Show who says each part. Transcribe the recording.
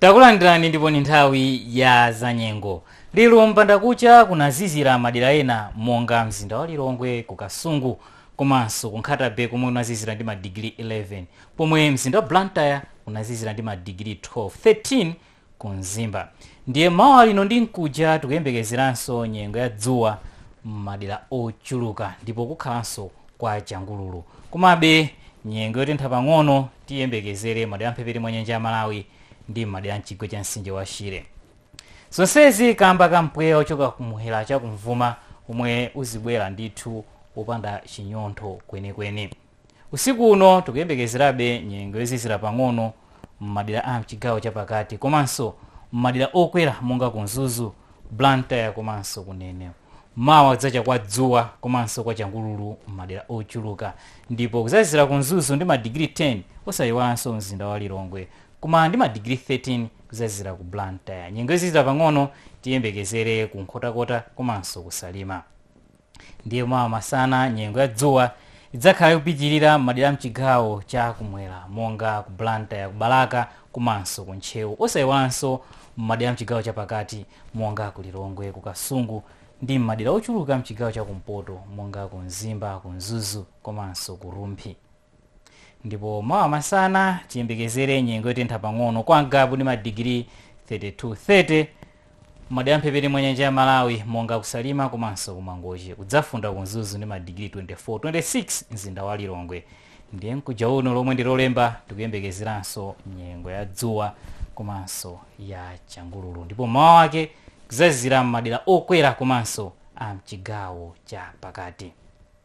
Speaker 1: takulandirani ndipo ni nthawi ya zanyengo lero mbandakucha kunazizira madera ena monga mzinda wa lilongwe ku kasungu komanso ku nkhatabe komwe kunazizira ndi madigiri 11 pomwe mzinda wa blantyre kunazizira ndi madigiri 12 13 ku mzimba ndiye m'mawa lino ndi mkuja tikuyembekezeranso nyengo ya dzuwa m'madera ochuluka ndipo kukhalanso kwa changululu komabe nyengo yotentha pang'ono tiyembekezere madera amphepete mwa nyanja ya malawi ndi m'madera amchigwa cha mtsinje wa shire zonsezi kamba ka mpweya wochoka kumwera chakum'vuma omwe uzibwera ndithu wopanda chinyontho kwenikweni Usiku uno tikuyembekezerabe nyengo yozizira pang'ono m'madera a mchigawo chapakati komanso m'madera okwera monga ku Mzuzu, Blantyre komanso ku Neno. Mawa kudzacha kwa dzuwa komanso kwa changululu m'madera ochuluka ndipo kudzazizira ku Mzuzu ndi madigiri 10 osayiwalanso mzinda wa Lilongwe koma ndi madigiri 13 kudzazizira ku Blantyre. Nyengo yozizira pang'ono tiyembekezere ku Nkhotakota komanso ku Salima. ndiye mawa masana nyengo ya dzuwa idzakhala ikupitirira m'madera amchigawo cha kumwera monga ku blantyre ku balaka komanso ku ntcheu osayiwalanso m'madera amchigawo chapakati monga ku lilongwe ku kasungu ndi m'madera ochuluka mchigawo cha kumpoto monga ku mzimba ku mzuzu komanso ku rumphi Ndipo mawa masana tiyembekezere nyengo yotentha pang'ono kwa ngabu ndi madigiri 32 30 madera amphepete mwa nyanja ya malawi monga ku salima komanso ku mangochi kudzafunda ku mzuzu ndi madigiri 24 26 mzinda wa lilongwe ndiye mkuja uno lomwe ndi lolemba tikuyembekezeranso nyengo ya dzuwa komanso ya changululu ndipo m'mawa wake kudzazizira m'madera okwera komanso a mchigawo cha pakati